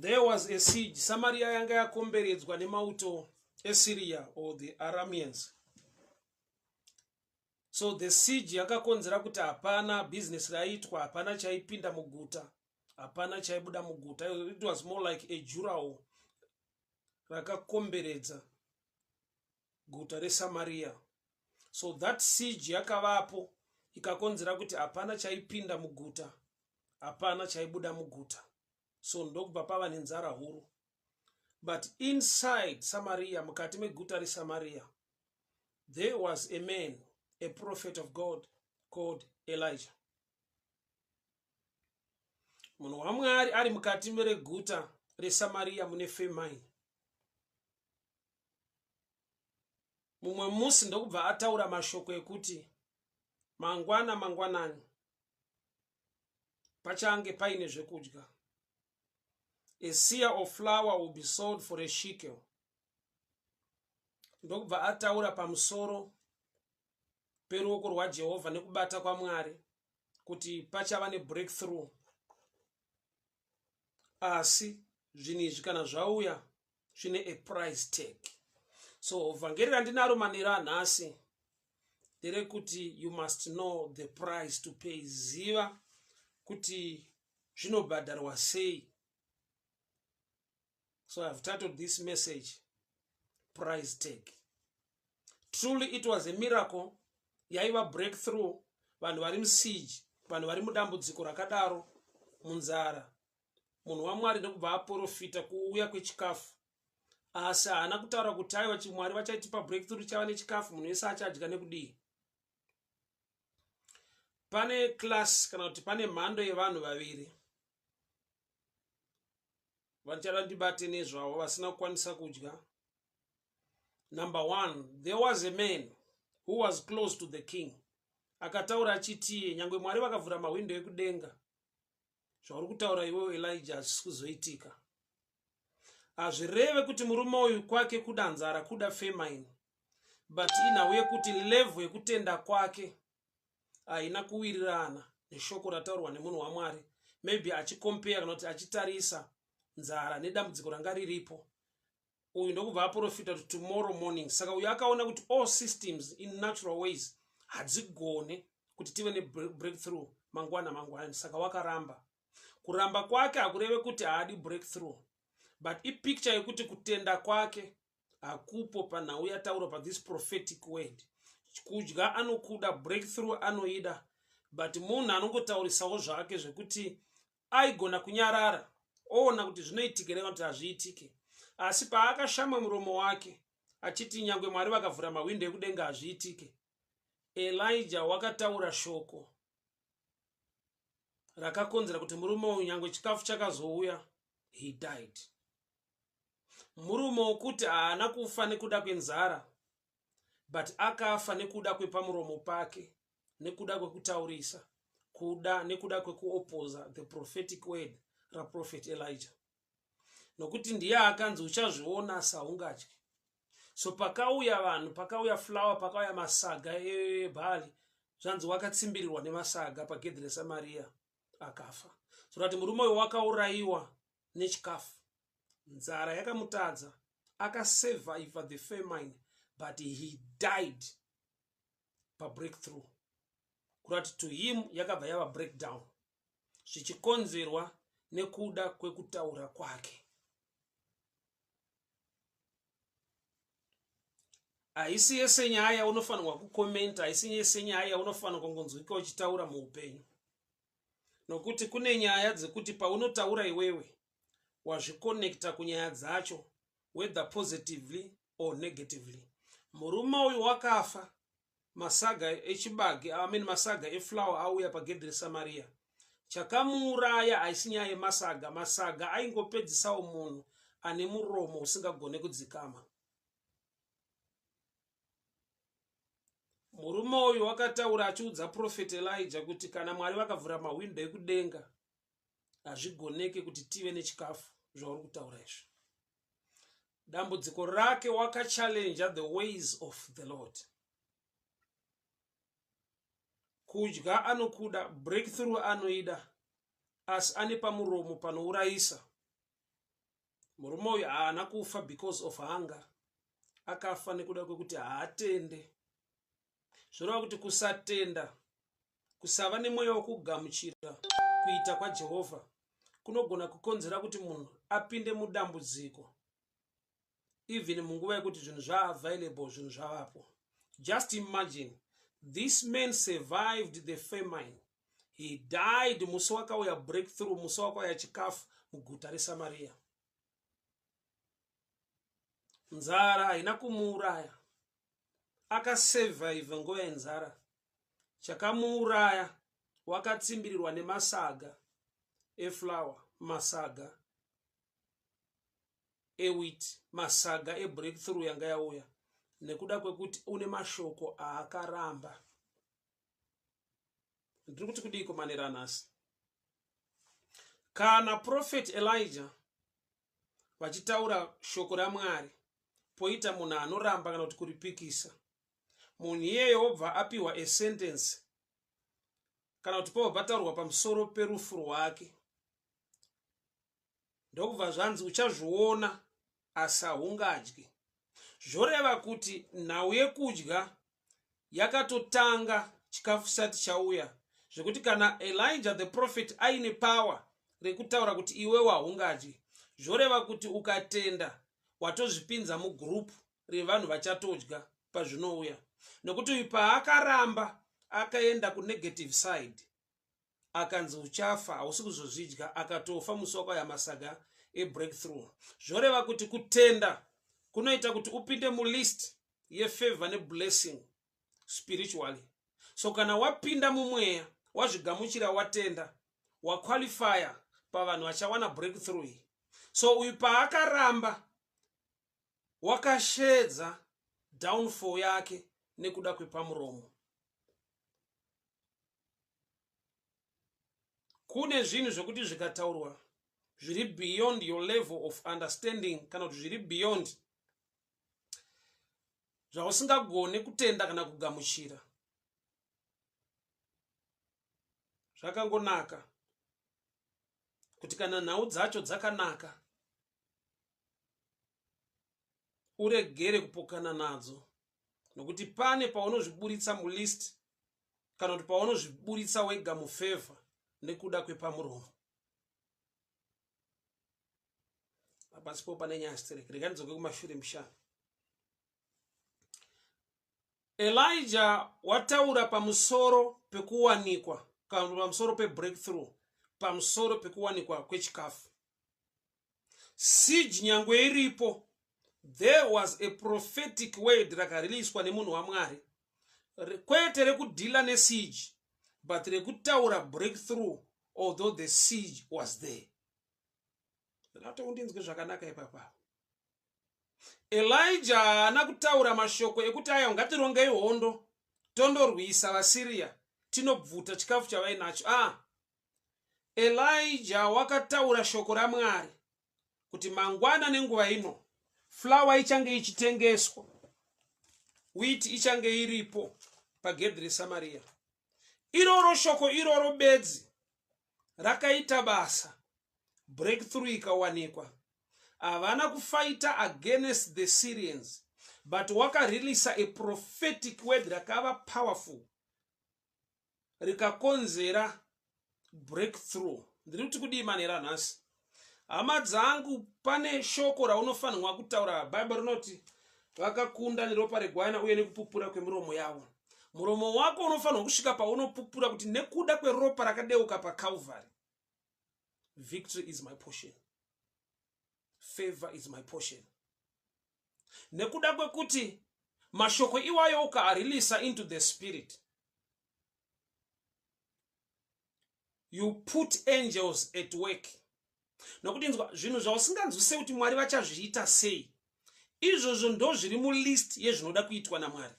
there was a siege samaria yanga yakomberedzwa nemauto esyria or the aramians so the siege yakakonzera kuti hapana business raiitwa hapana chaipinda muguta hapana chaibuda muguta it was more like a jurawo rakakomberedza guta resamariya so that siege yakavapo ikakonzera kuti hapana chaipinda muguta hapana chaibuda muguta so ndokubva pava nenzara huru but inside samariya mukati meguta resamariya there was a man a prophet of god called elijah munhu wamwari ari mukati mereguta resamariya mune femine mumwe musi ndokubva ataura mashoko ekuti mangwana mangwanani pachange paine zvekudya a sear of flower will be sold for a shikel ndokubva ataura pamusoro peruoko rwajehovha nekubata kwamwari kuti pachava nebreakthrough asi zvinhu izvi kana zvauya zvine a price tag so vhangeri randinaro manera anhasi nderekuti you must know the price to pay ziva kuti zvinobhadharwa sei so i've titled this message price tag truly it was a miracle yaiva breakthrough vanhu vari musiege vanhu vari mudambudziko rakadaro munzara munhu wamwari nekubva aporofita kuuya kwechikafu asi haana kutaura kuti aiwa chimwari vachaitipa breakthrough chava nechikafu munhu wese achadya nekudii pane class kana kuti pane mhando yevanhu vaviri vachada ndibate nezvavo vasina kukwanisa kudya number one there was a man who was close to the king akataura achiti nyange mwari vakavhura mahwindo ekudenga zvauri kutaura iwewo elija hazvisi kuzoitika hazvireve kuti murume uyu kwake kuda nzara kuda femine but inhau yekuti levhu yekutenda kwake haina kuwirirana neshoko rataurwa nemunhu wamwari maybe achikompeya kana kuti achitarisa nzara nedambudziko ranga riripo uyu ndokubva aprofita kuti tomorrow morning saka uyu akaona kuti all systems in natural ways hadzigone kuti tive nebreakthrough mangwana mangwana saka wakaramba kuramba kwake hakureve kuti haadi breakthrough but ipicture yekuti kutenda kwake hakupo panhau yataurwa pathis prophetic word kudya anokuda breakthrough anoida but munhu anongotaurisawo zvake zvekuti aigona kunyarara oona kuti zvinoitika here kuti hazviitike asi paakashama muromo wake achiti nyange mwari vakavhura mahwindo ekudenga hazviitike elija wakataura shoko rakakonzera kuti murume uyu nyange chikafu chakazouya he died murume wokuti haana kufa nekuda kwenzara but akafa nekuda kwepamuromo pake nekuda kwekutaurisa kuda nekuda kwekuopoza the prophetic word raprofet elijah nokuti ndiye akanzi uchazviona saungatyi so pakauya vanhu pakauya flower pakauya masaga ebhali e, zvanzi wakatsimbirirwa nemasaga pagedhi resamaria akafa zvorati murume uyo wakaurayiwa nechikafu nzara yakamutadza akasurvivor the famine but he died pabreakthrough kurati to him yakabva yava breakdown zvichikonzerwa nekuda kwekutaura kwake haisi yese nyaya unofanirwa kukomenta haisi yese nyaya unofanirwa kungonzwika uchitaura muupenyu nokuti kune nyaya dzekuti paunotaura iwewe wazvikonekta kunyaya dzacho whether positively or negatively murume uyu wakafa masaga echibage I mean masaga eflower auya pagedhi resamariya chakamuuraya haisi nyaya yemasaga masaga aingopedzisawo munhu ane muromo usingagone kudzikama murume uyu wakataura achiudza profeti elija kuti kana mwari vakavhura mahwindo ekudenga hazvigoneke kuti tive nechikafu zvauri kutaura izvo dambudziko rake wakachallenja the ways of the lord kudya anokuda breakthrough anoida asi ane pamuromo panourayisa murume uyu haana kufa because of hunger akafa nekuda kwekuti haatende zvoreva kuti kusatenda kusava nemweya wekugamuchira kuita kwajehovha kunogona kukonzera kuti munhu apinde mudambudziko even munguva yekuti zvinhu zvaavailable zvinhu zvavapo just imagine this man survived the famine he died musi wakauya breakthrough musi wakauya chikafu muguta resamariya nzara haina kumuuraya akasurvive nguva yenzara chakamuuraya wakatsimbirirwa nemasaga eflower masaga ewit masaga ebreakthrough yanga yauya nekuda kwekuti une mashoko aakaramba ndiri kuti kudii kumanera nhasi kana profeti elija vachitaura shoko ramwari poita munhu anoramba kana kuti kuripikisa munhu iyeyo wobva apiwa esentensi kana kuti pobva pataurwa pamusoro perufu rwake ndokubva zvanzi uchazviona asi haungadyi zvoreva kuti nhau yekudya yakatotanga chikafu chisati chauya zvekuti kana elija the prophet aine power rekutaura kuti iwewo haungadyi zvoreva kuti ukatenda watozvipinza mugroup revanhu vachatodya pazvinouya nokuti uyu paakaramba akaenda kunegative side akanzi uchafa hausi kuzozvidya akatofa musi wakauya masaga ebreakthrough zvoreva kuti kutenda kunoita kuti upinde mulist yefavor neblessing spiritually so kana wapinda mumweya wazvigamuchira watenda waqualifya pavanhu vachawana breakthrough iyi so uyu paakaramba wakashedza downfall yake nekuda kwepamuromo kune zvinhu zvekuti zvikataurwa zviri beyond your level of understanding kana kuti zviri beyond zvausingagone kutenda kana kugamuchira zvakangonaka kuti kana nhau dzacho dzakanaka uregere kupokana nadzo nokuti pane paunozviburitsa mulist kana kuti paunozviburitsa wega mufevha nekuda kwepamuromo apasi po pane nyaya stereki rega ndidzoke kumashure mushana elija wataura pamusoro pekuwanikwa kana pamusoro pebreakthrough pamusoro pekuwanikwa kwechikafu siege nyangwe iripo there was a prophetic word rakariliswa nemunhu wamwari kwete rekudhila nesiege but rekutaura breakthrough although the siege was there ndinatoa kundinzwe zvakanaka ipapaa elija haana kutaura mashoko ekuti aya ngatirongei hondo tondorwisa vasiriya tinobvuta chikafu chavainacho a ah, Elijah wakataura shoko raMwari kuti mangwana nenguva ino flour ichange ichitengeswa, wheat ichange iripo pagedhi reSamaria. Iroro shoko iroro bedzi rakaita basa, breakthrough ikawanikwa. Havana kufaita against the Syrians, but wakareleasa a prophetic word rakava powerful rikakonzera breakthrough ndiri kuti kudii manera nhasi hama dzangu pane shoko raunofanirwa kutaura bhaibheri rinoti vakakunda neropa regwana uye nekupupura kwemiromo yavo muromo wako unofanirwa kusvika paunopupura kuti nekuda kweropa rakadeuka pacalvary victory is my portion favor is my portion nekuda kwekuti mashoko iwayo ukaarilisa into the spirit you put angels at work nokuti nzwa zvinhu zvausinganzwisei kuti mwari vachazviita sei izvozvo ndo zviri mulist yezvinoda kuitwa namwari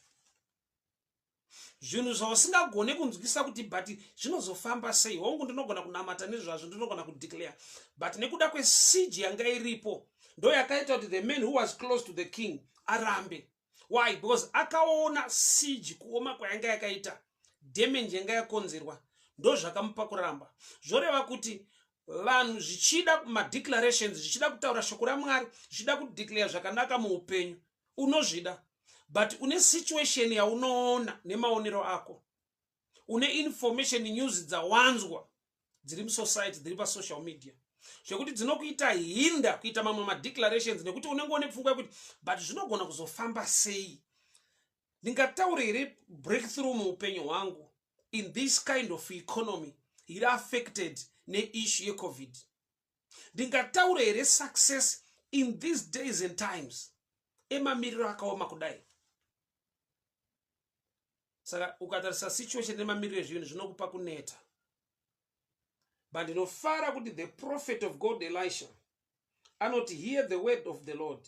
zvinhu zvausingagone kunzwisisa kuti but zvinozofamba sei hongu ndinogona kunamata nezvazvo ndinogona kudeclare but nekuda kwesiji yanga iripo ndo yakaita kuti the man who was close to the king arambe why because akaona siji kuoma kwayanga yakaita damage yanga yakonzerwa ndo zvakamupa kuramba zvoreva kuti vanhu zvichida madeclarations zvichida kutaura shoko ramwari zvichida kudeclare zvakanaka muupenyu unozvida but une situation yaunoona nemaonero ako une information news dzawanzwa dziri musociety dziri pasocial media zvekuti dzinokuita hinda kuita mamwe madeclarations nekuti unenge one pfungwa yekuti but zvinogona kuzofamba sei ndingataure here breakthrough muupenyu hwangu in this kind of economy iri affected neissue yecovid ndingataure here success in these days and times emamiriro akaoma kudai saka ukatarisa situation nemamiriro ezvinhu zvinokupa kuneta but ndinofara kuti the prophet of god elisha anoti hear the word of the lord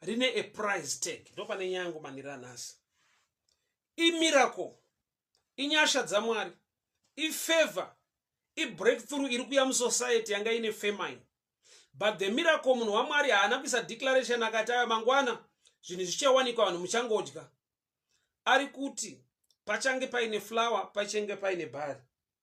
rine a price tag ndopane nyaya yangu manira nhasi imiracle inyasha dzamwari ifavor ibreakthrough iri kuya musociety yanga ine famine but the miracle munhu wamwari haana kuisa declaration akati aya mangwana zvinhu zvichawanikwa vanhu muchangodya ari kuti pachange paine flower pachange paine bhari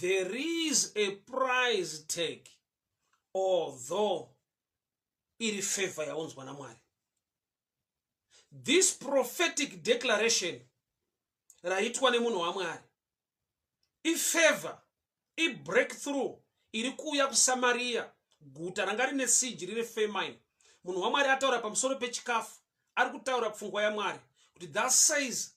there is a price tag although iri favor yaunzwa namwari this prophetic declaration raitwa nemunhu wamwari ifavor ibreakthrough iri kuuya kusamariya guta ranga rine siji rine famine munhu wamwari ataura pamusoro pechikafu ari kutaura pfungwa yamwari kuti that says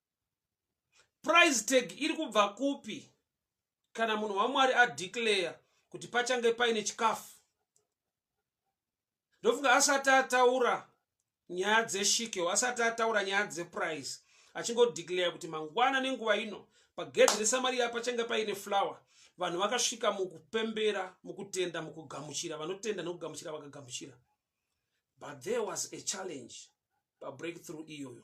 price tag iri kubva kupi kana munhu wamwari adeclare kuti pachange paine chikafu ndofunga asati ataura nyaya dzeshikeo asati ataura nyaya dzeprice achingodeclare kuti mangwana nenguva ino pagedhi resamariya pachange paine flower vanhu vakasvika mukupembera mukutenda mukugamuchira vanotenda nokugamuchira vakagamuchira but there was a challenge pabreakthrough iyoyo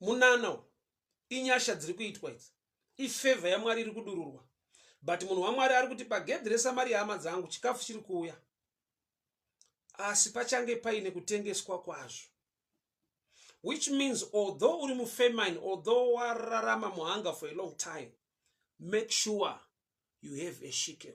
munana uyu inyasha dziri kuitwa idzi ifevha yamwari iri kudururwa but munhu wamwari ari kuti pagedhi resamari yehama dzangu chikafu chiri kuuya asi pachange paine kutengeswa kwazvo which means although uri mufamine although wararama muhanga for a long time make sure you have a shikel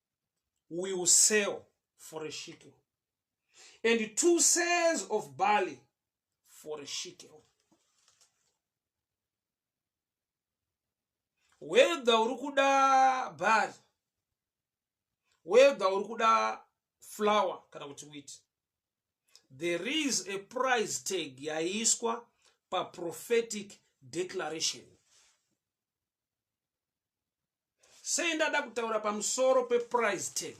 will sell for a shekel, and two sales of barley for a shekel. Whether uri kuda barley, whether uri kuda flour kana kuti wheat, there is a price tag yaiswa pa prophetic declaration. sei ndada kutaura pamusoro peprice tag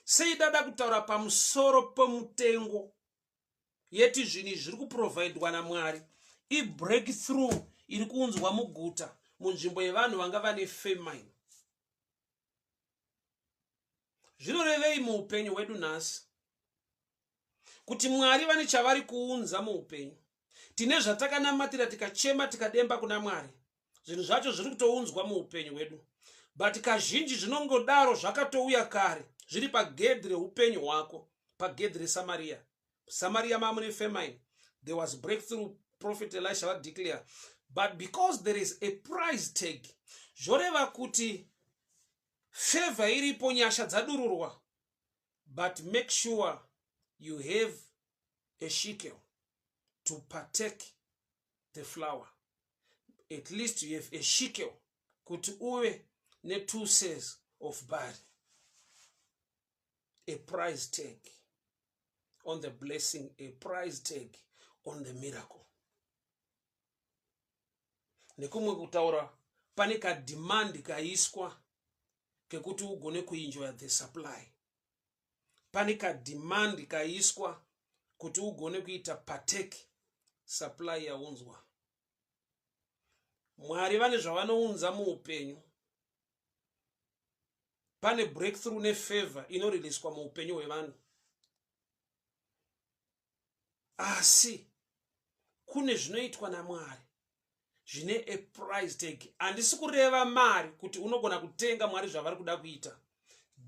sei ndada kutaura pamusoro pemutengo yeti zvinhu izvi zviri kuprovhaidwa namwari ibreakthrough iri kuunzwa muguta munzvimbo yevanhu vanga vane famine zvinorevei muupenyu hwedu nhasi kuti mwari vane chavari kuunza muupenyu tine zvatakanamatira tikachema tikademba kuna mwari zvinhu zvacho zviri kutounzwa muupenyu hwedu but kazhinji zvinongodaro zvakatouya kare zviri pagedhi reupenyu hwako pagedhi resamariya samariya mamune famine there was breakthrough prophet elisha vadeclare but because there is a price tag zvoreva kuti favor iripo nyasha dzadururwa but make sure you have a shekel to partake the flower at least you have a shekel kuti uve ne-two says of bari a price tag on the blessing a price tag on the miracle nekumwe kutaura pane kadhimandi kaiswa kekuti ugone kuinjoya the supply pane kadhimandi kaiswa kuti ugone kuita pateki supply yaunzwa mwari vane zvavanounza muupenyu pane breakthrough nefavor inoriliswa muupenyu hwevanhu asi kune zvinoitwa namwari zvine a price tag handisi kureva mari kuti unogona kutenga mwari zvavari kuda kuita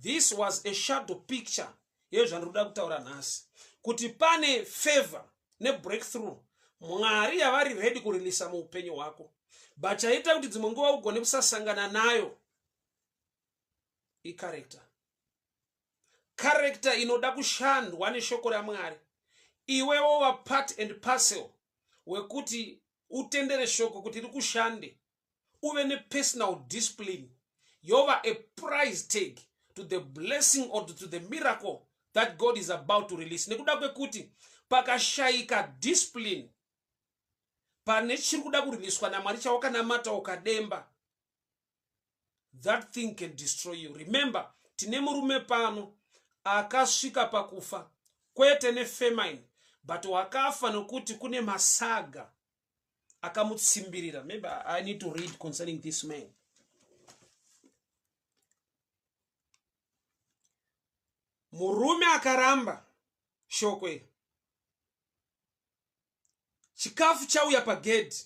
this was a shadow picture yezvandiri kuda kutaura nhasi kuti pane favor nebreakthrough mwari yavari redi kurilisa muupenyu hwako but chaita kuti dzimwe nguva ugone kusasangana nayo icarector character inoda kushandwa neshoko ramwari iwe wova part and parcel wekuti utendere shoko kuti rikushande uve nepersonal discipline yova a price tag to the blessing or to the miracle that god is about to release nekuda kwekuti pakashayika discipline pane chiri kuda kuriliswa namwari chawakanamata ukademba that thing can destroy you remember tine murume pano akasvika pakufa kwete nefemine but wakafa nokuti kune masaga akamutsimbirira maybe i need to read concerning this man murume akaramba shoko iri chikafu chauya pagedhi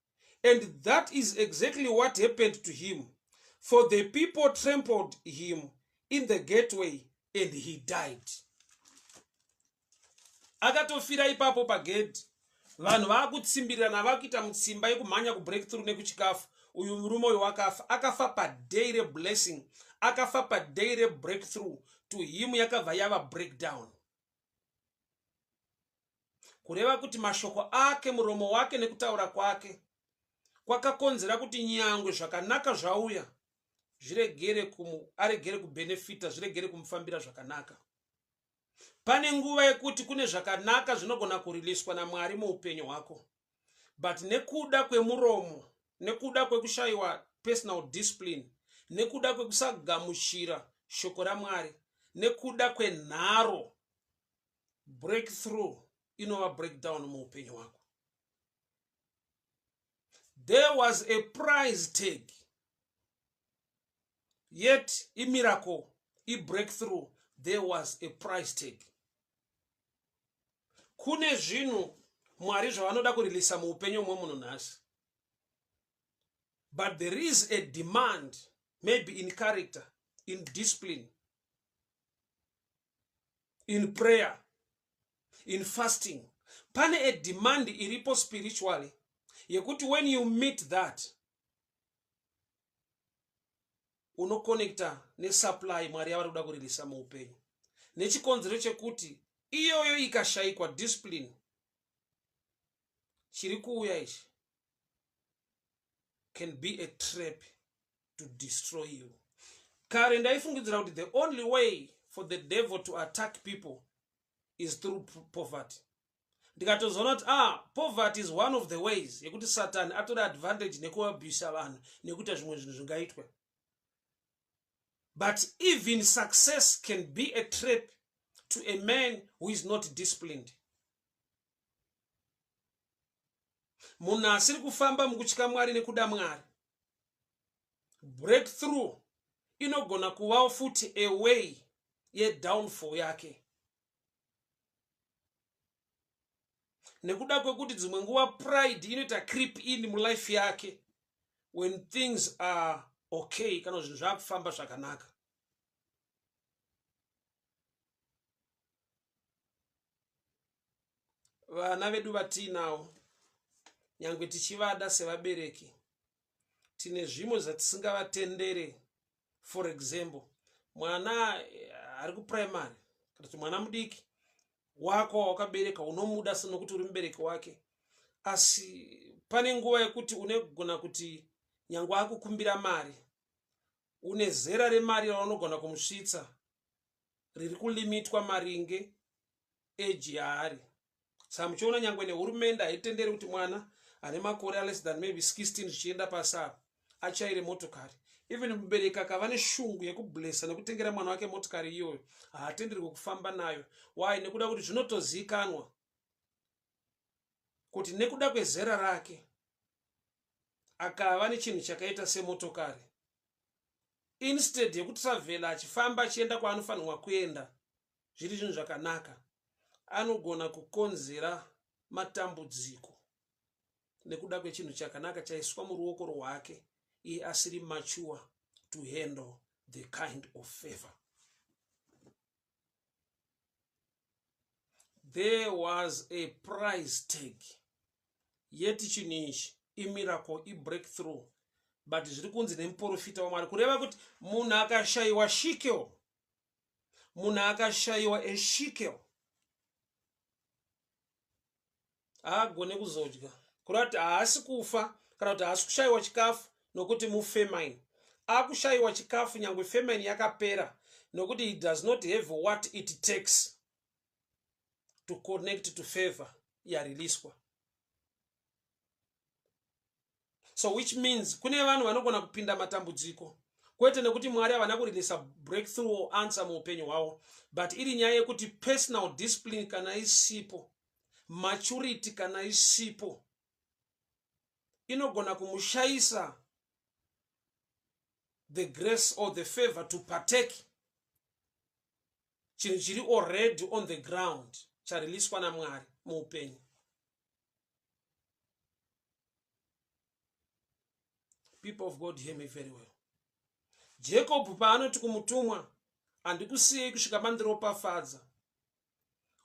and that is exactly what happened to him for the people trampled him in the gateway and he died akatofira ipapo pagedhi vanhu vaakutsimbirirana vakuita mutsimba yekumhanya kubreakthrough nekuchikafu uyu murume uyu wakafa akafa paday reblessing akafa paday rebreakthrough to him yakabva yava breakdown kureva kuti mashoko ake muromo wake nekutaura kwake kwakakonzera kuti nyangwe zvakanaka zvauya zviregere kumu aregere kubenefita zviregere kumufambira zvakanaka pane nguva yekuti kune zvakanaka zvinogona kuriliswa namwari muupenyu hwako but nekuda kwemuromo nekuda kwekushayiwa personal discipline nekuda kwekusagamuchira shoko ramwari nekuda kwenharo breakthrough inova breakdown muupenyu hwako there was a price tag yet imiracle ibreakthrough there was a price tag kune zvinhu mwari zvavanoda kurilisa muupenyu umwe munhu nhasi but there is a demand maybe in character in discipline in prayer in fasting pane a demand iripo spiritually yekuti when you meet that unoconnecta nesupply mwari yavari kuda kuririsa muupenyu nechikonzero chekuti iyoyo ikashayikwa discipline chiri kuuya ichi can be a trap to destroy you kare ndaifungidzira kuti the only way for the devil to attack people is through poverty ndikatozoona kuti ah poverty is one of the ways yekuti satani atore advantage nekuabhisa vanhu nekuita zvimwe zvinhu zvingaitwe but even success can be a trap to a man who is not disciplined munhu asiri kufamba mukutya mwari nekuda mwari breakthrough inogona kuvawo futi away yedownfall yake nekuda kwekuti dzimwe nguva pride inoita creep in mulife yake when things are okay kana zvinhu zvakufamba zvakanaka vana vedu vatiinawo nyange tichivada sevabereki tine zvimwe zvatisingavatendere for example mwana eh, ari kuprimary kana kuti mwana mudiki wako wawakabereka unomuda senokuti uri mubereki wake asi pane nguva yekuti unegona kuti nyange akukumbira mari une zera remari raunogona kumusvitsa riri kulimitwa maringe age yaari saka muchiona nyangwe nehurumende haitenderi kuti mwana ane makore aless than maybe 16 zvichienda pasava achaire motokari even mubereki akava neshungu yekublesa nekutengera mwana wake motikari iyoyo haatenderwe kufamba nayo why nekuda kuti zvinotoziikanwa kuti nekuda kwezera rake akava nechinhu chakaita semotokari instead yekutravhela achifamba achienda kwaanofanirwa kuenda zviri zvinhu zvakanaka anogona kukonzera matambudziko nekuda kwechinhu chakanaka chaiswa muruoko rwake iye asiri mature to handle the kind of favor there was a price tag yeti chinhu ichi imiracle ibreakthrough but zviri kunzi nemuprofita wamwari kureva kuti munhu akashayiwa shikeo munhu akashaiwa eshikel haagone kuzodya kureva kuti haasi kufa kana kuti haasi kushaiwa chikafu nokuti mufemine akushayiwa chikafu nyange famine yakapera nokuti he does not have what it takes to connect to favor yareleaswa so which means kune vanhu vanogona kupinda matambudziko kwete nekuti mwari havana kurilisa breakthrough or answer muupenyu hwavo but iri nyaya yekuti personal discipline kana isipo maturity kana isipo inogona kumushayisa the grace or the favor to partake chinhu chiri already on the ground chariliswa namwari muupenyu people of god hear me very well jacob paanoti kumutumwa handikusiyei kusvika mandiropafadza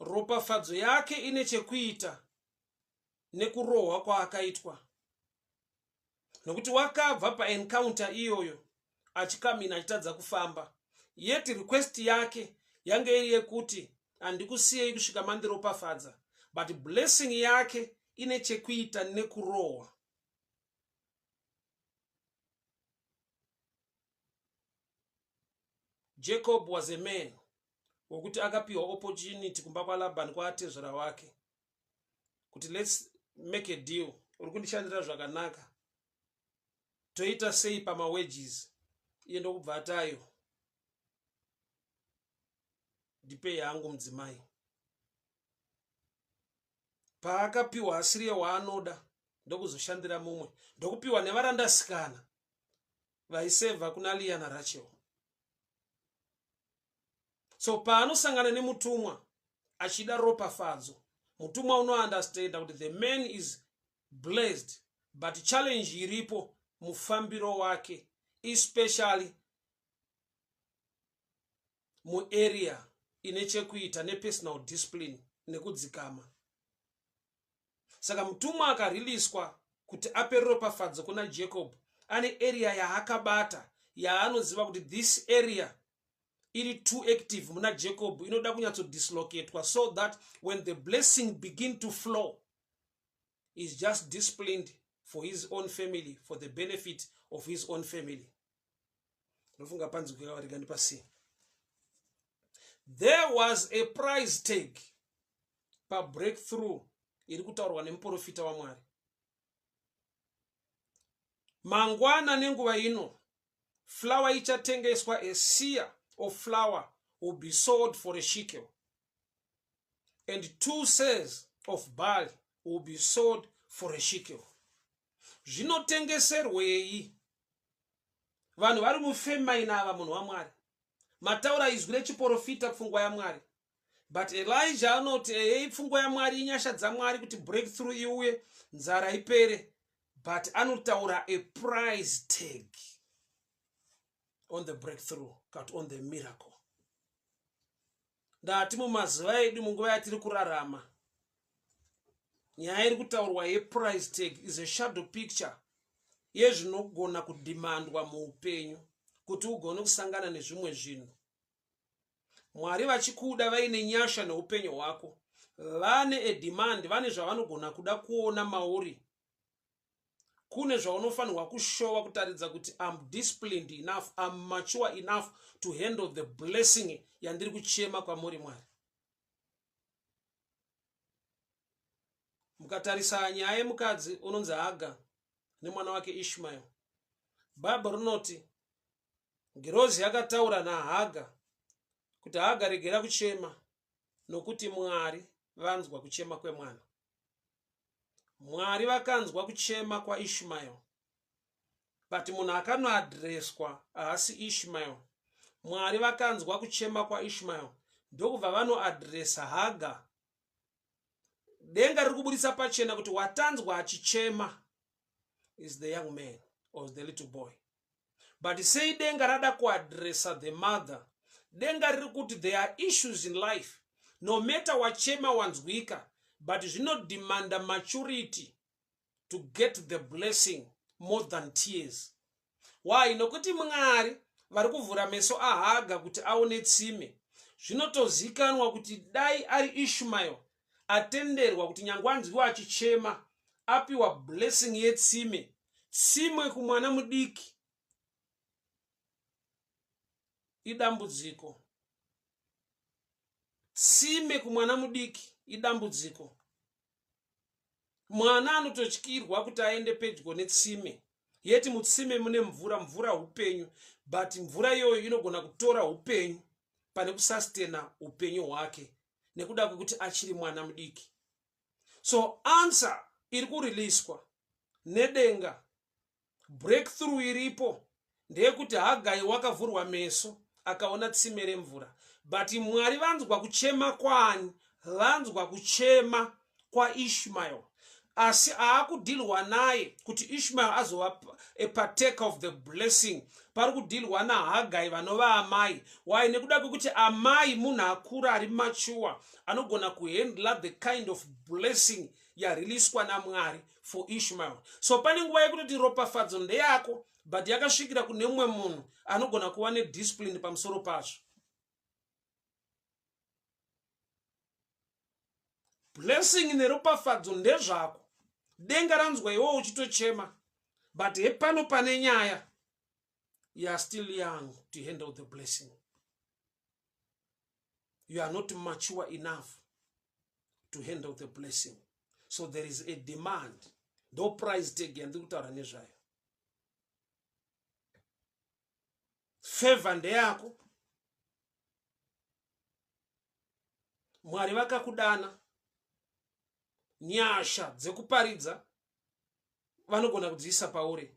ropafadzo yake ine chekuita nekurohwa kwaakaitwa nokuti wakabva paencounter iyoyo achikamina achitadza kufamba yet request yake yange iri yekuti handikusiyei kusvika mandiropafadza but blessing yake ine chekuita nekurohwa jacob was a man wokuti akapiwa opportunity kumba kwalabhani kwaatezvera wake kuti lets make a deal uri kundishandira zvakanaka toita sei pamawages iye ndokubva atayo ndipe yangu mudzimai paakapiwa asiriye waanoda ndokuzoshandira mumwe ndokupiwa nevarandasikana vaiseva kuna liana rachel so paanosangana nemutumwa achida ropafadzo mutumwa unounderstanda kuti the man is blessed but challenge iripo mufambiro wake especially muarea ine chekuita nepersonal discipline nekudzikama saka mutumwa akariliswa kuti ape ropafadzo kuna jacob ane area yaakabata yaanoziva kuti this area iri too active muna jacob inoda kunyatsodislocatwa so that when the blessing begin to flow is just disciplined for his own family for the benefit of his own family ndofunga panzi kukavarika ndipasii there was a price tag pabreakthrough iri kutaurwa nemuprofita wamwari mangwana nenguva ino flower ichatengeswa a sear of flower will be sold for a shekel and two says of bali will be sold for a shekel zvinotengeserwei vanhu vari mufemaina ava munhu wamwari mataura izwi rechiporofita pfungwa yamwari but elija anoti eyei pfungwa yamwari inyasha dzamwari kuti breakthrough iuye nzara ipere but anotaura a price tag on the breakthrough kat on the miracle Ndati mumazuva edu munguva yatiri kurarama nyaya iri kutaurwa yeprice tag is a shadow picture yezvinogona kudhimandwa muupenyu kuti ugone kusangana nezvimwe zvinhu mwari vachikuda vaine nyasha neupenyu hwako vane edemand vane zvavanogona kuda kuona mauri kune zvaunofanirwa kushowa kutaridza kuti am disciplined enough am mature enough to handle the blessing yandiri kuchema kwamuri mwari mukatarisa nyaya yemukadzi unonzi haga nemwana wake ishmael bhaibha rinoti ngirozi yakataura nahaga kuti haga regera kuchema nokuti mwari vanzwa kuchema kwemwana Mwari vakanzwa kuchema kwaIshmael but munhu akanoadreswa haasi Ishmael. Mwari vakanzwa kuchema kwaIshmael ndokubva vanoadresa Haga. Denga riri kuburitsa pachena kuti watanzwa achichema is the young man or the little boy but sei denga rada kuadressa the mother denga riri kuti there are issues in life no matter wachema wanzwika but zvinodemanda maturity to get the blessing more than tears why nokuti mwari vari kuvhura meso ahaga kuti aone tsime zvinotozikanwa kuti dai ari ishmael atenderwa kuti nyangwe anzwiwa achichema apiwa blessing yetsime tsimwe kumwana mudiki idambudziko tsime kumwana mudiki idambudziko mwana anototyirwa kuti aende pedyo netsime yeti mutsime mune mvura mvura upenyu but mvura iyoyo inogona kutora upenyu pane kusastena upenyu hwake nekuda kwekuti achiri mwana mudiki so answer iri kuriliswa nedenga breakthrough iripo ndeyekuti hagai wakavhurwa meso akaona tsime remvura but mwari vanzwa kuchema kwani vanzwa kuchema kwaishmael asi aakudhilwa naye kuti ishmael azova a partaker of the blessing pari kudhilwa nahagai vanova amai why nekuda kwekuti amai munhu akura ari mature anogona kuhandla the kind of blessing yariliswa namwari for ishmael so pane nguva yekutoti ropafadzo ndeyako but yakasvikira kune mumwe munhu anogona kuva nediscipline pamusoro pazvo blessing neropafadzo ndezvako denga ranzwa iwo uchitochema but hepano pane nyaya you are still young to handle the blessing you are not mature enough to handle the blessing so there is a demand ndo price tag yandiri kutaura nezvayo favor ndeyako mwari vakakudana nyasha dzekuparidza vanogona kudziisa pauri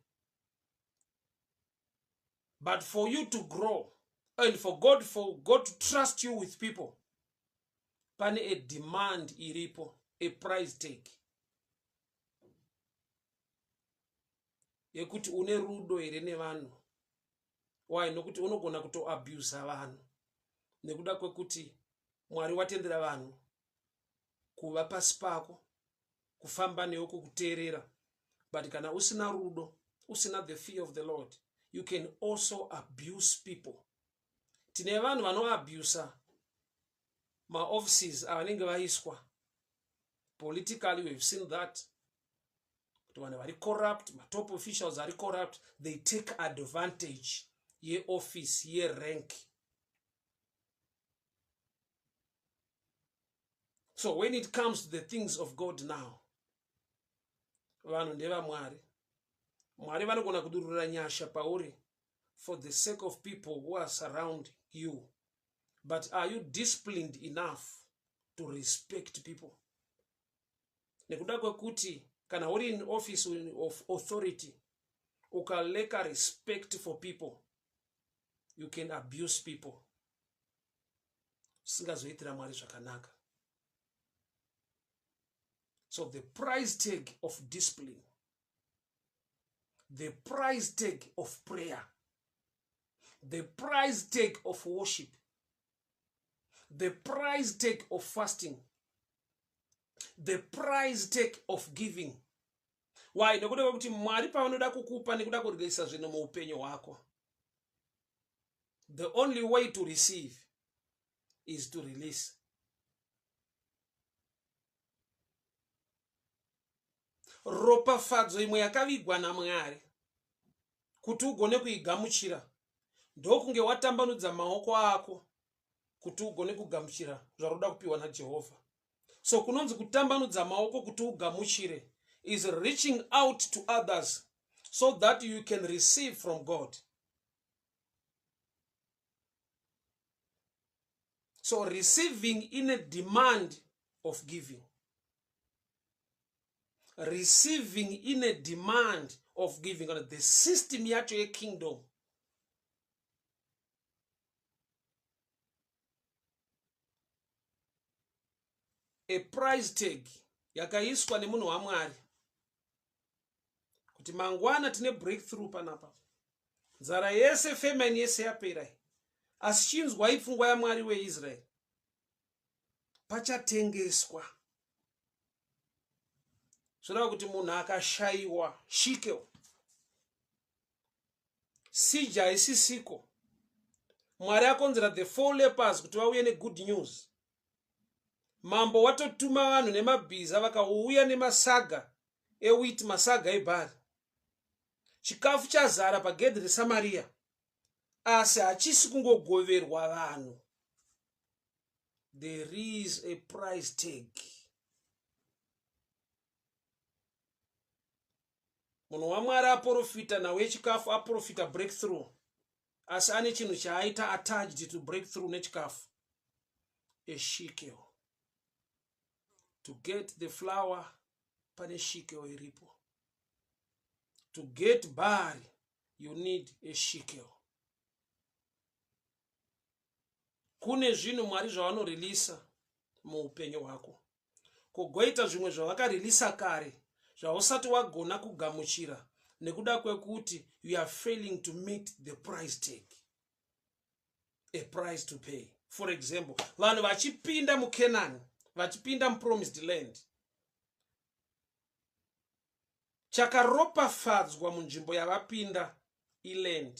but for you to grow and for god for god to trust you with people pane a demand iripo a price take yekuti une rudo here nevanhu why nokuti unogona kutoabusa vanhu nekuda kwekuti mwari watendera vanhu kuva pasi pako kufamba newe kukuteerera but kana usina rudo usina the fear of the lord you can also abuse people tine vanhu vanoabusa maoffices avanenge vaiswa politically we've seen that kuti vanhu vari corrupt matop officials ari corrupt they take advantage yeoffice yerank so when it comes to the things of god now vanhu ndevamwari mwari vanogona kudurura nyasha pauri for the sake of people who are surround you but are you disciplined enough to respect people nekuda kwekuti kana uri in office of authority ukaleka respect for people you can abuse people usingazoitira mwari zvakanaka so the price tag of discipline the price tag of prayer the price tag of worship the price take of fasting the price take of giving why nekuda kwekuti mwari pavanoda kukupa nekuda kuryisa zvinhu muupenyu hwako the only way to receive is to release ropafadzo imwe yakavigwa namwari kuti ugone kuigamuchira ndokunge watambanudza maoko ako kuti ugone kugamuchira zvaroda kupiwa najehovha so kunonzi kutambanudza maoko kuti ugamuchire is reaching out to others so that you can receive from god so receiving ine demand of giving receiving ine demand of giving kana the system yacho yekingdom a price tag yakaiswa nemunhu wamwari kuti mangwana tine breakthrough panapa nzara yese famine yese yapera asi chinzwai pfungwa yamwari weisraeri pachatengeswa zvoreva kuti munhu akashayiwa shikel sija haisisiko mwari akonzera the four lepers kuti vauye negood news mambo watotuma vanhu nemabhiza vakauya nemasaga ewit masaga ebhari chikafu chazara pagedhi resamariya asi hachisi kungogoverwa vanhu there is a price tag munhu wamwari aporofita nhau yechikafu aporofita breakthrough asi ane chinhu chaaita attached to break through nechikafu a shikel to get the flower pane shikel iripo to get bari you need a shikel kune zvinhu mwari zvavanorelisa muupenyu hwako kugoita zvimwe zvavakareleasa kare zvausati wagona kugamuchira nekuda kwekuti you are failing to meet the price tag a price to pay for example vanhu vachipinda mucanani vachipinda mupromised land chakaropafadzwa munzvimbo yavapinda iland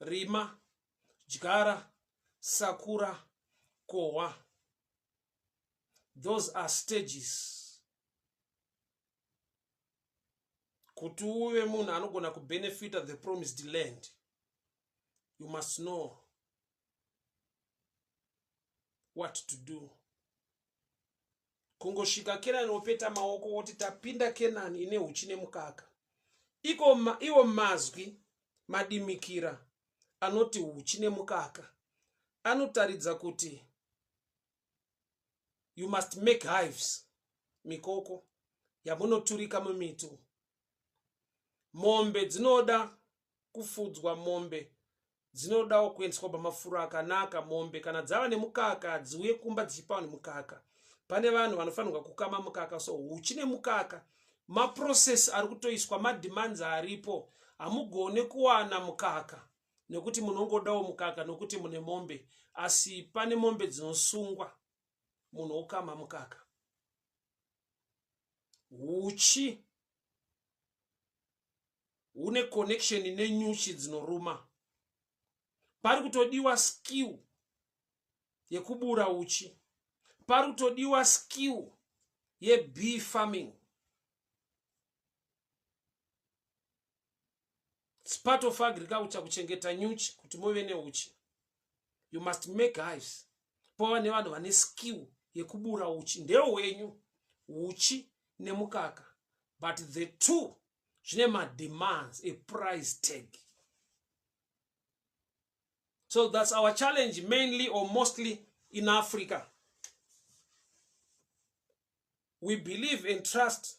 rima dyara sakura kohwa those are stages kuti uve munhu anogona kubenefita the promised land you must know what to do kungosvika kenani wopeta maoko woti tapinda kenani ine huchi nemukaka iko ma, iwo mazwi madimikira anoti huchi nemukaka anotaridza kuti you must make hives mikoko yamunoturika mumitu mombe dzinoda kufudzwa mombe dzinodawo kuendeswa pamafuro akanaka mombe kana dzava nemukaka dziuye kumba dzichipawo nemukaka pane vanhu vanofanirwa kukama mukaka so huchi nemukaka maprocess ari kutoiswa mademands aripo hamugone kuwana mukaka nekuti munongodawo mukaka nokuti mune mombe asi pane mombe dzinosungwa munhu okama mukaka huchi hune connection nenyuchi dzinoruma pari kutodiwa skill yekubura uchi pari kutodiwa skill yebee farming Spart of agriculture kuchengeta nyuchi kuti muve neuchi. You must make hives. Pova nevanhu vane skill yekubura uchi ndeo wenyu uchi nemukaka but the two zvine mademands eprice tag so thats our challenge mainly or mostly in africa we believe and trust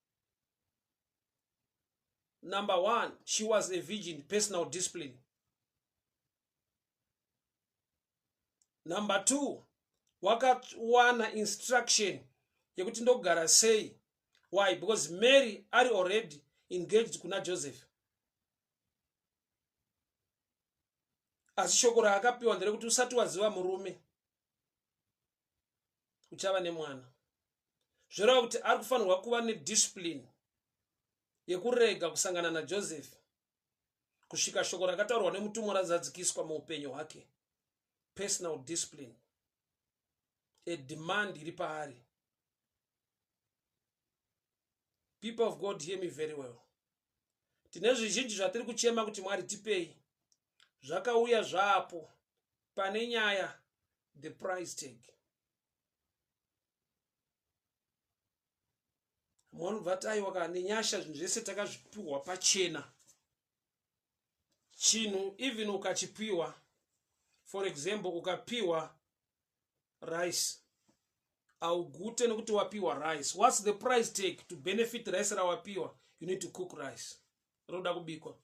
number one she was a virgin personal discipline number two wakawana instruction yekuti ndogara sei why because mary ari already engaged kuna joseph asi shoko raakapiwa nderekuti usati waziva murume uchava nemwana zvoreva kuti ari kufanirwa kuva nediscipline yekurega kusangana najoseph kusvika shoko rakataurwa nemutumwa razadzikiswa muupenyu hwake personal discipline ademand iri paari people of god hear me very well tine zvizhinji zvatiri kuchema kuti mwari tipei zvakauya zvapo pane nyaya the price tag moni bvataiwa ka nenyasha zvinhu zvese takazvipiwa pachena chinhu even ukachipiwa for example ukapiwa rice augute nekuti wapiwa rice whats the price take to benefit rice rawapiwa you need to cook rice roda kubikwa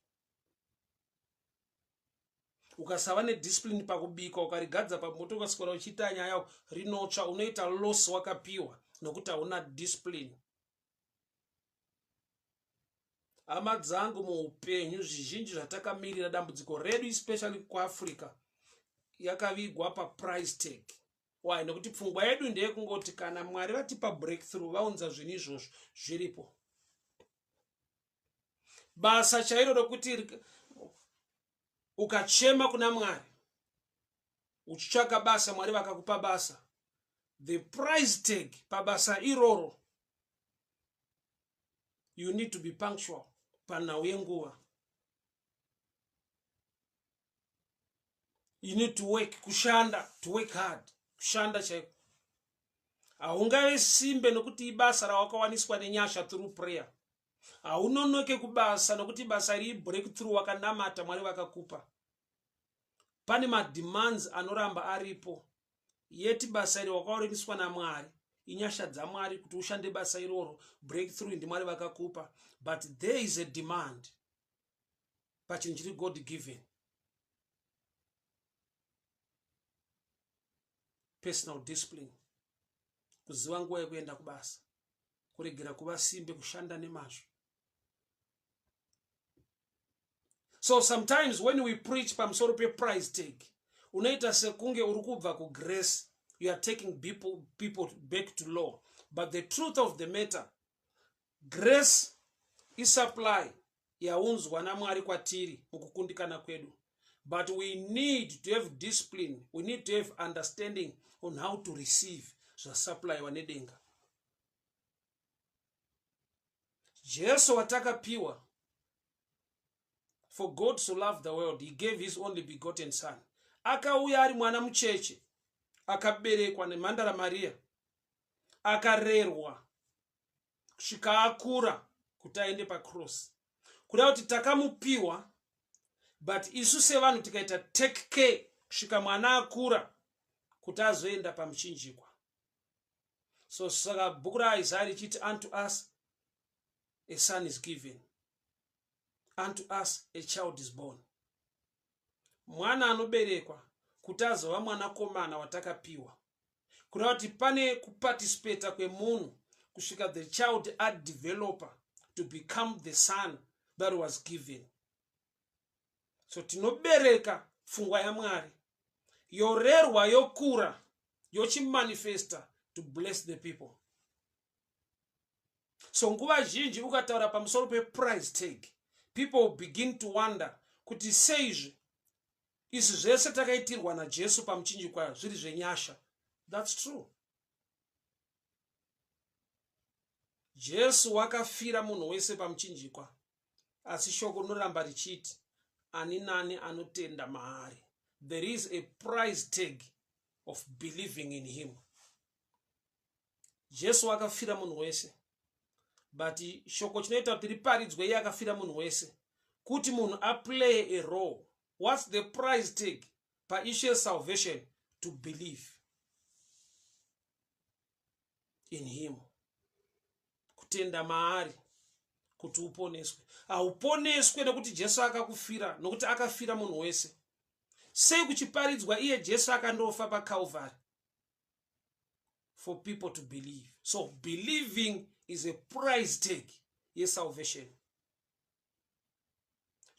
ukasava nediscipline pakubika ukarigadza pamoto ukaswera uchiita nyaya rinotsva unoita loss wakapiwa nokuti hauna discipline hama dzangu muupenyu zvizhinji zvatakamirira dambudziko redu especially kuafrica yakavigwa paprice tag why nekuti pfungwa yedu ndeyekungoti kana mwari vatipa breakthrough vaunza zvinhu izvozvo zviripo basa chairo rokuti ukachema kuna mwari uchitsvaka basa mwari vakakupa basa the price tag pabasa iroro you need to be punctual panhau yenguva you need to work kushanda to work hard kushanda chaiko haungave simbe nokuti ibasa rawakawaniswa nenyasha through prayer haunonoke kubasa nokuti basa rii breakthrough wakanamata mwari vakakupa pane mademands anoramba aripo yeti basa iri wakaoreniswa namwari inyasha dzamwari kuti ushande basa iroro breakthrough ndimwari vakakupa but there is a demand pachinhu chiri god given personal discipline kuziva nguva yekuenda kubasa kuregera kuva simbe kushanda nemazvo so sometimes when we preach pamusoro peprice tag unoita sekunge uri kubva kugrace you are taking people, people back to law but the truth of the matter grace isupply yaunzwa namwari kwatiri mukukundikana kwedu but we need to have discipline we need to have understanding on how to receive zvasaplaiwa nedenga jesu watakapiwa for god to love the world he gave his only begotten son akauya ari mwana mucheche akaberekwa nemhandara mariya akarerwa kusvika akura kuti aende pacross kuda kuti takamupiwa but isu sevanhu tikaita take care kusvika mwana akura kuti azoenda pamuchinjikwa so saka bhuku raisaya richiti unto us a son is given unto us a child is born mwana anoberekwa kuti azova mwanakomana watakapiwa kureva kuti pane kuparticipata kwemunhu kusvika the child adeveloper to become the son that was given so tinobereka pfungwa yamwari yorerwa yokura yochimanifesta to bless the people so nguva zhinji ukataura pamusoro peprice tag people begin to wonder kuti seizvi izvi zvese takaitirwa najesu pamuchinjikwa zviri zvenyasha thats true jesu wakafira munhu wese pamuchinjikwa asi shoko rinoramba richiti ani nani anotenda maari there is a price tag of believing in him jesu akafira munhu wese but shoko chinoita kuti riparidzwe iye akafira munhu wese kuti munhu aplaye a role whats the price tag paishu yesalvation to believe in him kutenda maari kuti uponeswe hauponeswe nekuti jesu akakufira nokuti akafira munhu wese sei kuchiparidzwa iye jesu akandofa pacalvary for people to believe so believing is a price tag yesalvation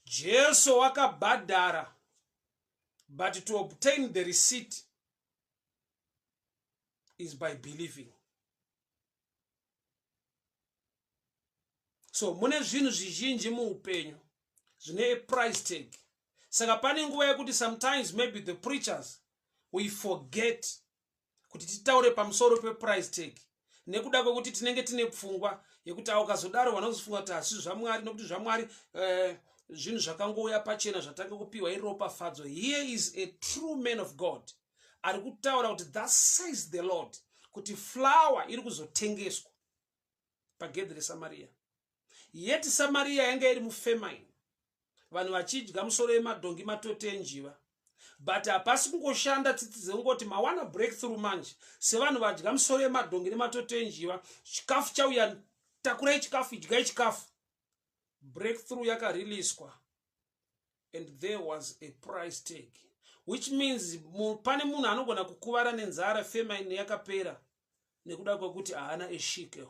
jesu wakabhadhara but to obtain the receipt is by believing so mune zvinhu zvizhinji muupenyu zvine aprice tag saka pane nguva yekuti sometimes maybe the preachers we forget kuti titaure pamusoro peprice tag nekuda kwekuti tinenge tine pfungwa yekuti a ukazodaro vana kuzofunga kuti hasi zvamwari nokuti zvamwari eh, zvinhu zvakangouya pachena zvatange kupiwa iropafadzo here is a true man of god ari kutaura kuti thus says the lord kuti flower iri kuzotengeswa pagedhi resamariya yeti samariya yanga iri mufemaini vanhu vachidya musoro yemadhongi matoti enjiva but hapasi kungoshanda tsitsi dzekungoti mawana breakthrough manje sevanhu vadya musoro yemadhongi nematoti enjiva chikafu chauya takurai chikafu idyai chikafu breakthrough yakareliswa and there was a price tag which means pane munhu anogona kukuvara nenzara femine yakapera nekuda kwekuti haana eshikel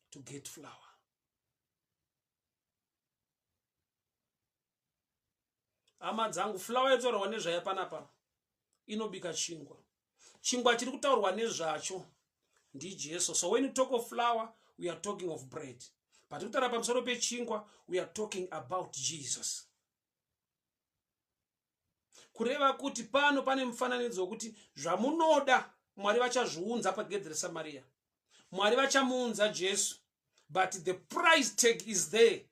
to get flower hama dzangu flower yataurwa nezvayo panapa inobika chingwa chingwa chiri kutaurwa nezvacho ndijesu so when you talk of flower we are talking of bread patiri kutaura pamusoro pechingwa we are talking about jesus kureva kuti pano pane mufananidzo wekuti zvamunoda mwari vachazviunza pagedhi resamariya mwari vachamuunza jesu but the price tag is there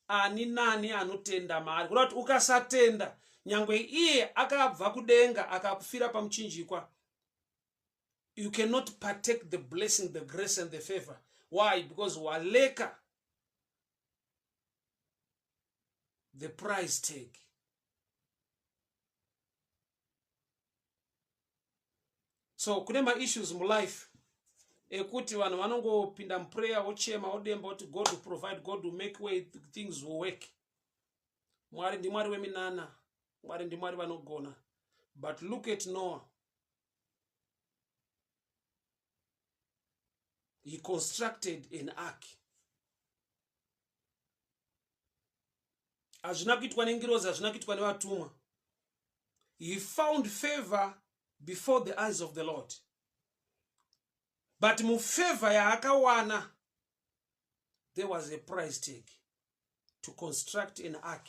ani nani anotenda maari kuda kuti ukasatenda nyangwe iye akabva kudenga akakufira pamuchinjikwa you cannot partake the blessing the grace and the favor why because waleka the price tag so kune maissues mulife ekuti vanhu vanongopinda muprayer wochema wodemba woti god will provide god will make way things will work mwari ndimwari weminana mwari ndimwari vanogona but look at noah he constructed an ark hazvina kuitwa nengirozi hazvina kuitwa nevatumwa he found favor before the eyes of the lord but mufavor yaakawana there was a price tag to construct an ark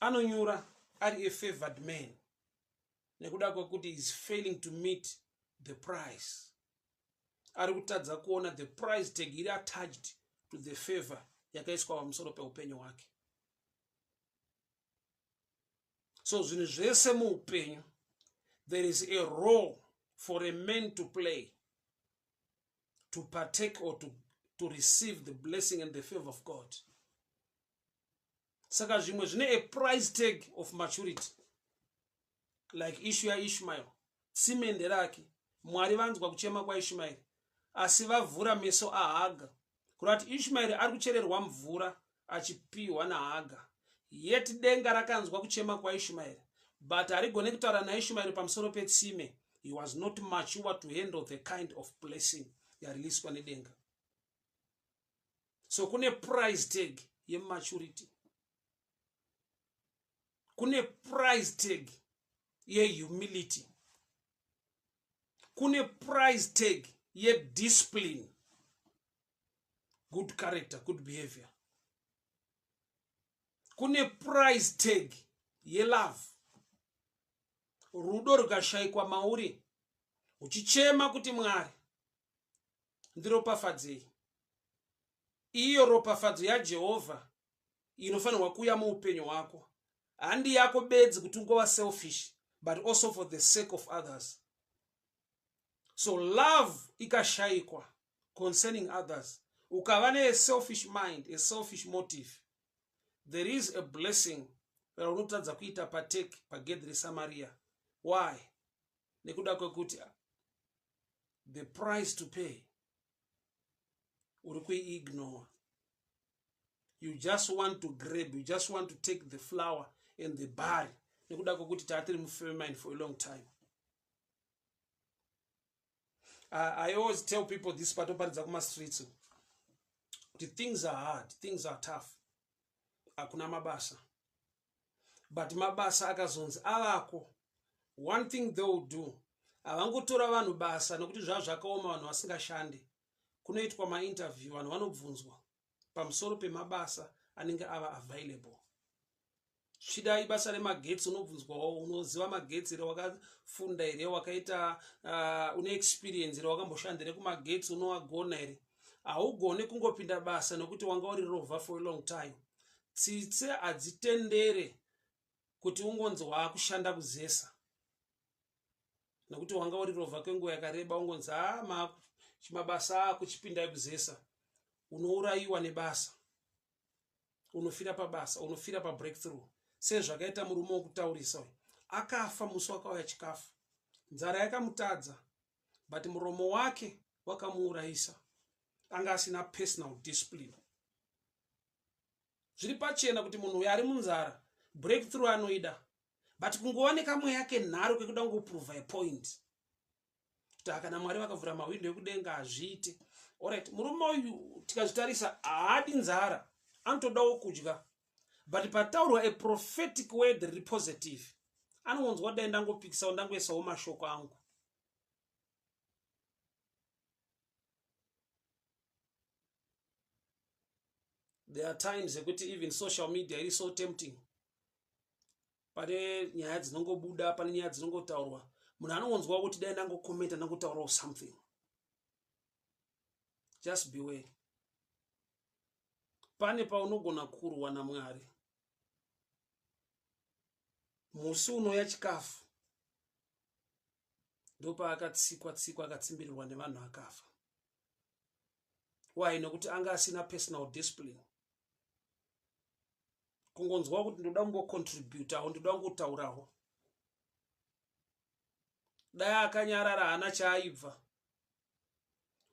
anonyura ari a favored man nekuda kwekuti is failing to meet the price ari kutadza kuona the price tag iri attached to the favor yakaiswa pamusoro peupenyu hwake so zvinhu zvese muupenyu there is a role for a man to play to partake or to, to receive the blessing and the favor of god saka zvimwe zvine a price tag of maturity like ishu yaishmael simende rake mwari vanzwa kuchema kwaishmaeri asi vavhura meso ahaga kuda kuti ishmaeri ari kuchererwa mvura achipiwa nahaga yet denga rakanzwa kuchema kwaishmaeri but harigone kutaura naishmaeri pamusoro petsime he was not mature to handle the kind of blessing yareleaswa nedenga so kune price tag yematurity kune price tag yehumility kune price tag yediscipline good character good behavior kune price tag yelove rudo rukashaikwa mauri uchichema kuti mwari ndiropafadzei iyo ropafadzo yajehovha inofanirwa kuuya muupenyu hwako handi yako bedzi kuti ungova selfish but also for the sake of others so love ikashayikwa concerning others ukava neaselfish mind aselfish motive there is a blessing raunotadza kuita patake pagedhi resamaria why nekuda kwekuti the price to pay uri kuiignore you just want to grab you just want to take the flower and the bary nekuda kwekuti taatiri mufemine for a long time I, i always tell people this patoparidza kumastreets kuti things are hard things are tough hakuna mabasa but mabasa akazonzi avako one thing they will do havangotora vanhu basa nokuti zvava zvakaoma vanhu vasingashande kunoitwa mainterview vanhu vanobvunzwa pamusoro pemabasa anenge ava available svida ibasa remagetsi unobvunzwawo unoziva magetsi here wakafunda here wakaita uh, une experience here wakamboshandire kumagetsi unowagona here haugone kungopinda basa nokuti wanga uri rovha for a long time tsitsi hadzitendere kuti ungonzi waakushanda kuzesa nokuti wanga uri rovha kwenguva yakareba ungonzi ama ah, chimabasa ako chipindai kuzesa unourayiwa nebasa unofira pabasa unofira pabreakthrough sezvakaita murume wokutaurisa uyu akafa musi wakauya chikafu nzara yakamutadza but muromo wake wakamuurayisa anga asina personal discipline zviri pachena kuti munhu uyo ari munzara breakthrough anoida but kungova nekamweya kenharo kekuda kungoprove a point kuti akana mwari vakavhura mahwindo ekudenga hazviite orit murume uyu tikazvitarisa haadi nzara anotodawo kudya but pataurwa a prophetic word riri positive anongonzwa dai ndangopikisawo ndangoisawo mashoko angu there are times ekuti even social media iri so tempting pane nyaya dzinongobuda pane nyaya dzinongotaurwa munhu anongonzwa kuti dai ndangokomenta ndangotaurawo something just beware pane paunogona kurwa namwari musi unoya chikafu ndopaakatsikwa tsikwa akatsimbirirwa nevanhu akafa why nokuti anga asina personal discipline kungonzwa kuti ndoda kungocontributawo ndoda kungotaurawo dai akanyarara haana chaaibva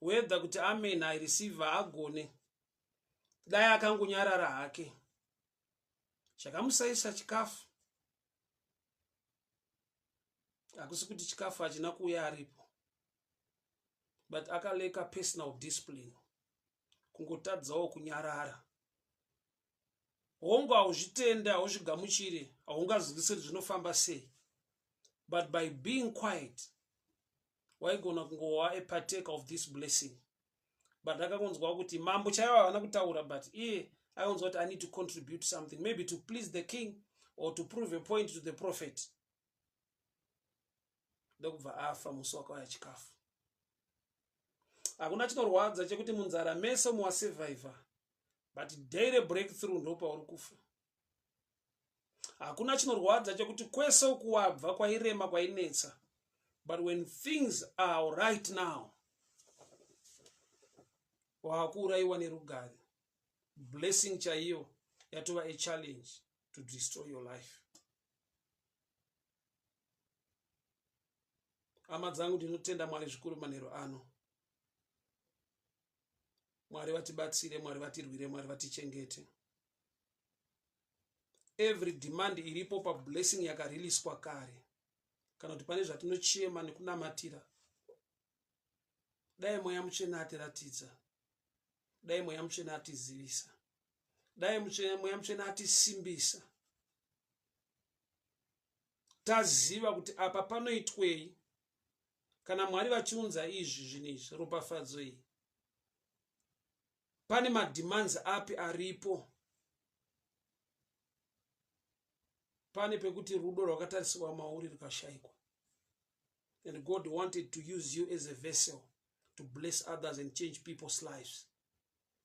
whether kuti amen i receive haagone dai akangonyarara hake chakamusaisa chikafu hakusi kuti chikafu hachina kuuya aripo but akaleka personal discipline kungotadzawo kunyarara hongu hauzvitenda hauzvigamuchire haungazwisiri zvinofamba sei but by being quiet waigona kungova a partaker of this blessing but akakonzwa kuti mambo chaivo havana kutaura but iye aionzwa kuti i need to contribute something maybe to please the king or to prove a point to the prophet ndokubva afa musi wakauya chikafu hakuna chinorwadza chekuti munzara mese muwasurvivor but daily breakthrough ndopauri kufa hakuna chinorwadza chekuti kwese ukuwabva kwairema kwainetsa but when things are right now waakuurayiwa nerugare blessing chaiyo yatova achallenge to destroy your life hama dzangu ndinotenda mwari zvikuru manhero ano mwari vatibatsire mwari vatirwire mwari vatichengete every demand iripo pablessing yakariliswa kare kana kuti pane zvatinochema nekunamatira dai mweya mutsvene atiratidza dai mweya mutsvene atizivisa dai mweya mutsvene atisimbisa taziva kuti apa panoitwei kana mwari vachiunza izvi zvinhu izvi ropafadzo iyi pane mademands api aripo pane pekuti rudo rwakatarisirwa mauri rukashaikwa and god wanted to use you as a vessel to bless others and change people's lives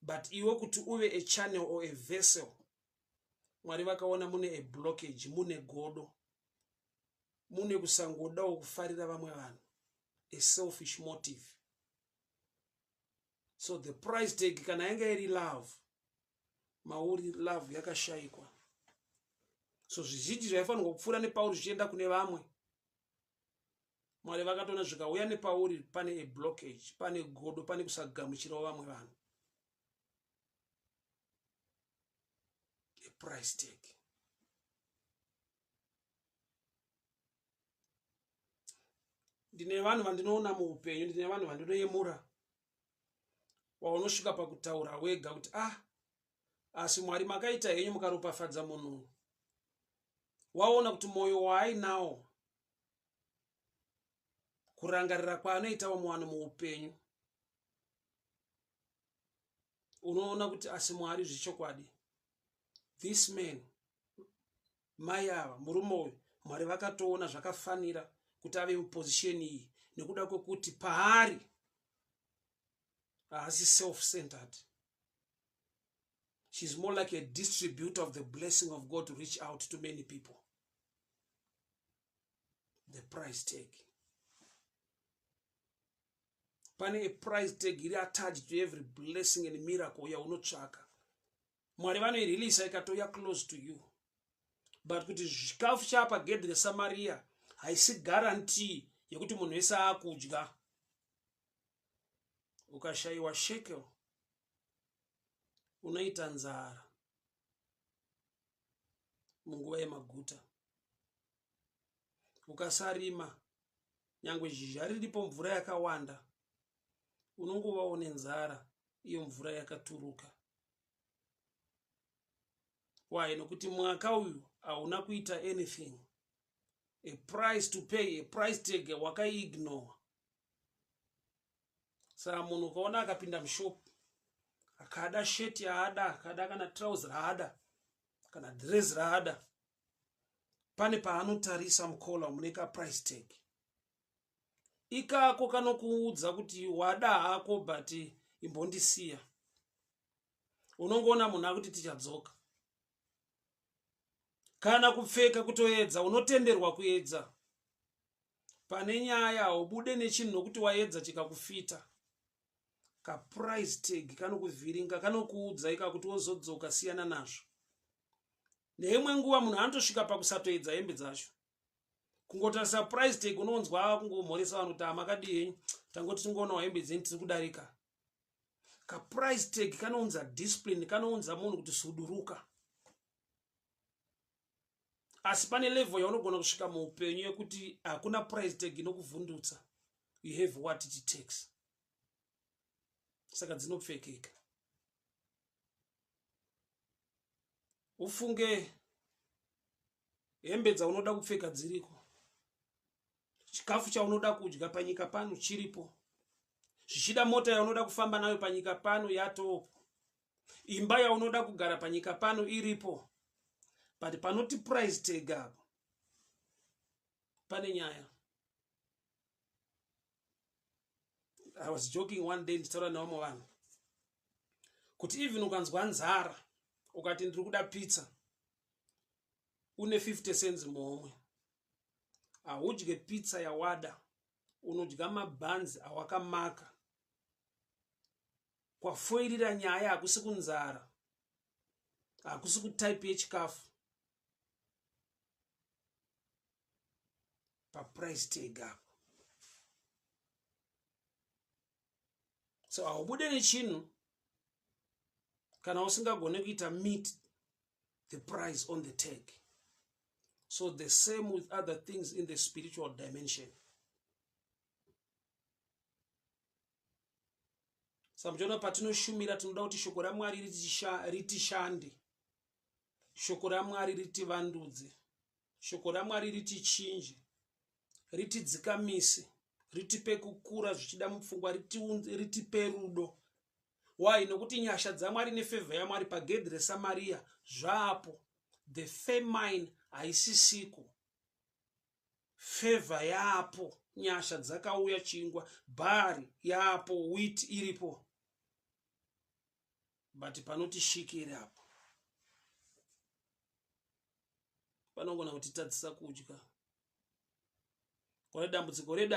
but iwe kuti uve a channel or a vessel mwari vakaona mune a blockage mune godo mune kusangodawo kufarira vamwe vanhu a selfish motive so the price tag kana yanga iri love mauri love yakashaikwa so zvizhinji zvaifanirwa kupfuura nepauri zvichienda kune vamwe mwari vakatoona zvikauya nepauri pane a blockage pane godo pane kusagamuchirawo vamwe vanhu aprice tag ndine vanhu vandinoona muupenyu ndine vanhu vandinoyemura waunosvika pakutaura wega kuti ah asi mwari makaita henyu mukaropafadza munhu waona kuti mwoyo waainawo kurangarira kwaanoita vamwe vanhu muupenyu unoona kuti asi mwari zvechokwadi this man mai ava murume uyu mwari vakatoona zvakafanira kuti ave muposition iyi nekuda kwekuti paari haasi self centered she's more like a distributor of the blessing of god to reach out to many people the price tag pane a price tag iri attached to every blessing and miracle yaunotsvaka mwari vanoirilisa ikatouya close to you but kuti zvikafu chapa gedhi resamariya haisi guarantee yekuti munhu wese aakudya ukashayiwa shekel unoita nzara munguva yemaguta ukasarima nyange zhizha riripo mvura yakawanda unongovawo nenzara iyo mvura yakaturuka why nokuti mwaka uyu hauna kuita anything a price to pay a price tag wakaiignore saa munhu ukaona akapinda mushop akada shirt yaada akada kana trouse raada kana dress raada pane paanotarisa mukola mune kaprice tag ikako kanokuudza kuti wada hako but imbondisiya unongoona munhu akuti tichadzoka kana kupfeka kutoedza unotenderwa kuedza pane nyaya haubude nechinhu nokuti waedza chikakufita kaprice tag kanokuvhiringa kanokuudza ika kuti wozodzoka siyana nazvo neimwe nguva munhu anotosvika pakusatoedza hembe dzacho kungotarisa price tag unonzwa ava kungomhoresa vanhu kuti amakadii henyu tangoti tingoonawo hembe dzeni tiri kudarika kaprice tag kanounza discipline kanounza munhu kuti suduruka asi pane level yaunogona kusvika muupenyu yekuti hakuna price tag inokuvhundutsa you have what it takes saka dzinopfekeka ufunge hembe dzaunoda kupfeka dziriko chikafu chaunoda kudya panyika pano chiripo zvichida mota yaunoda kufamba nayo panyika pano yatopo imba yaunoda kugara panyika pano iripo but panoti price tag apo pane nyaya i was joking one day ndichitaura nevamwe vanhu kuti even ukanzwa nzara ukati ndiri kuda pizza une 50 cents muhomwe haudye pizza yawada unodya mabhanzi awakamaka kwafoirira nyaya hakusi kunzara hakusi kutype yechikafu paprice tag apo so haubude nechinhu kana usingagone kuita meet the price on the tag so the same with other things in the spiritual dimension samjona patinoshumira tinoda kuti shoko ramwari ritishande Shoko raMwari ritivandudze. Shoko raMwari ritichinje, ritidzikamise, ritipe kukura zvichida mupfungwa, ritipe rudo. Why? Nokuti nyasha dzaMwari nefevha yaMwari pagedhi reSamaria zvaapo. The famine haisisiku. Fevha yaapo, nyasha dzakauya chingwa, bhari yaapo, wheat iripo. but panoti shikiri apo panogona kutitadzisa kudya kune dambudziko reda